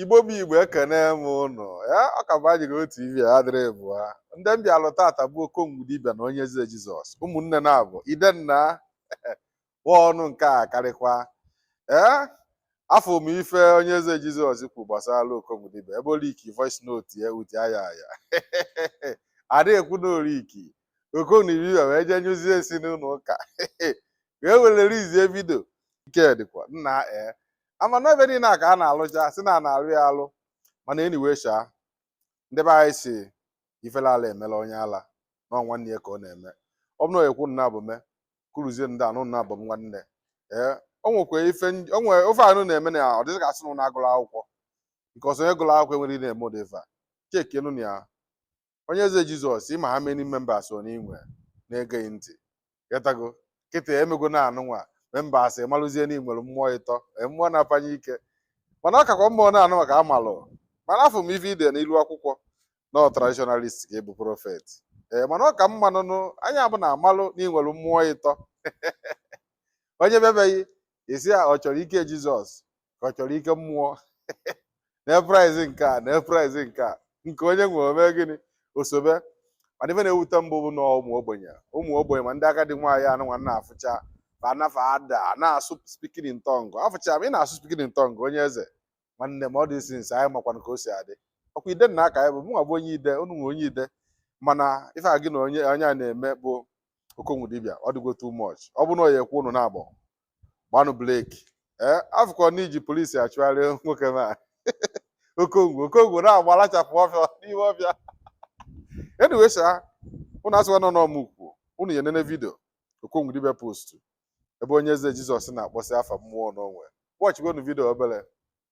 igbo bụ igbo ekene m ụnụ ya ọ ka bụ ajiro tv ya dịrị bụa ndị m bịalụ tata bụ okongwu dibịa na onye eze jizọs ụmụnne naabọ idenna wa ọnụ nke a karịkwa ee afụ m ife onye eze jizọs kwu gbasara okongwu dibịa ebe o liki voice note ya out aya aya adịghị ekwu na o liki okongwu dibịa wee jee nyụzie nsị n'ụlọ ụka wee rilizie vidio nke dịkwa nna ee ama na ebe niile a ka a na-alụja si na a na-alụ ya alụ mana anyway sha ndị be anyị si ifele ala eme onye ala na ọ nwanne ya ka ọ na-eme ọ bụ na ekwu nna bụ me kuruzie ndị anụnwa bụ m nwanne ee o nwekwa ife ndị- o nwere ife ụnụ na-eme na ya ọ dị ka asị na ụnụ agụrọ akwụkwọ because onye gụrụ akwụkwọ enwerọ ike na-eme ụdị ife a chekienụ nya onye eze jizọs ị ma how many members i nwe na-ege gị ntị getago kịta i mego na anụnwa members amalụzie na i nwere mmụọ ịtọ ee, mmụọ na-apanye ike mana ọ kakwa mma na anụnwa ka amalụ mana afụ m ife i de n'ilu akwụkwọ na ọ traditionalist ka ị bụ prọfet ee mana ọ ka mma na anụnwa nya bụ na amalụ na i nwere mmụọ ịtọ onye bịa be gị ị sị a ọ chọrọ ike jizọs ka ọ chọrọ ike mmụọ na price nke a na price nke a nke onye we o me gịnị o sobe mana ife na-ewute mụ bụ na ụmụ ogbenye ụmụ ogbenye ma ndị agadi nwaanyị anụnwa na-afụcha ma anafa ada na-asụ speaking in tongue afụcha ma ị na-asụ speaking in tongue onye eze nwanne m ọ dị since anyị makwana ka o si adị ọkwa idenna ka anyị bụ mụnwa bụ onye ide ụnụnwa onye ide mana ife a gị na onye onye a na-eme bụ okongwu dibịa ọ dịgo too much ọ bụ na ọ ya ekwu unu naabọ gbanụ breki ee eh, afụkwa na i ji polisi achụgharị nwoke m a okongwu okongwu na-agbalachapụ ọfịa n'ime ọfịa anyway sha ụnụ asịkwa na ọ mụ kwu ụnụ ya nene vidio okongwu dibịa postu ebe onye eze jizọs na-akpọsị afa mmụọ o nwe wọchigonu vidio obere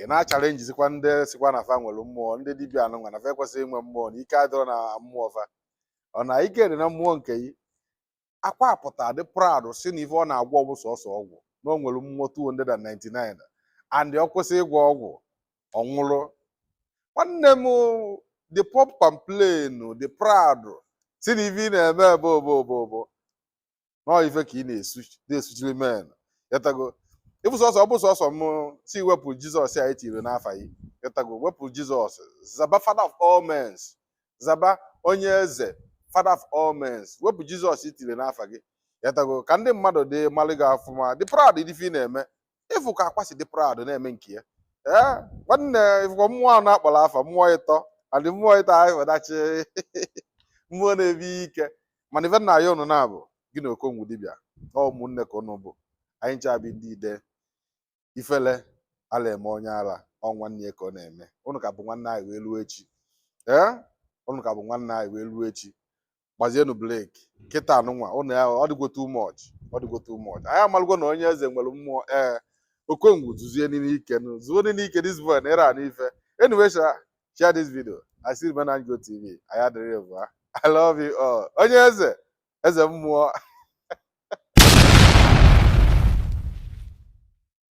ị na-achalenjizikwa ndị sikwa na fa nwere mmụọ ndị dibịa anụnwa na fa ekwesịghị inwe mmụọ na ike adịrọ na mmụọ fa ọ na ike dị na mmụọ nke yi akwa pụta dị proud si na ife ọ na-agwọ bụ sọsọ ọgwụ na o nwere mmụọ 299 and ọ kwụsị ịgwọ ọgwụ ọ nwụrụ nwanne m dị pump and plain dị proud si na ife ị na-eme bụ obobobo na ọ ife ka ị na-esuchiri men ị getago ọ bụ sọsọ ọ bụ sọsọ m si wepụ jizọs a i tiri n'afa gị ị getago wepụ jizọs zaba father of all men zaba onye eze father of all men wepụ jizọs i tiri n'afa gị ị getago ka ndị mmadụ dị malụ gị ọfụma dị proud ife ị na-eme ịfụ ka akwa si dị proud na-eme nke ya ee nwanne ịfụkwa mmụọ ahụ na-akpọrọ afa mmụọ ịtọ adị mmụọ ịtọ ahụ ịfọdachi mmụọ na-ebi ike mana ife m na-ayọ ụnụ naabọ gị na okongwu dibịa ọ ụmụnne ka ụnụ bụ anyị ncha bụ ndị ide ifele ala eme onye ala ọ nwanne ya ka ọ na-eme ụnụ ka bụ nwanne anyị wee luo echi ee ụnụ ka bụ nwanne anyị wee luo echi gbazienụ bleki kịtaa nụnwa ụnụ ya ọ dịgo too much ọ dịgo too much anyị amalụgo na onye eze nwere mmụọ ee okongwu zuzienụ ike nụ zuonụ ike this boy na ịra anụ ife anyway sha share this video i still remain anjo tv anyị adịrị ebu ha i love you all onye eze eze mmụọ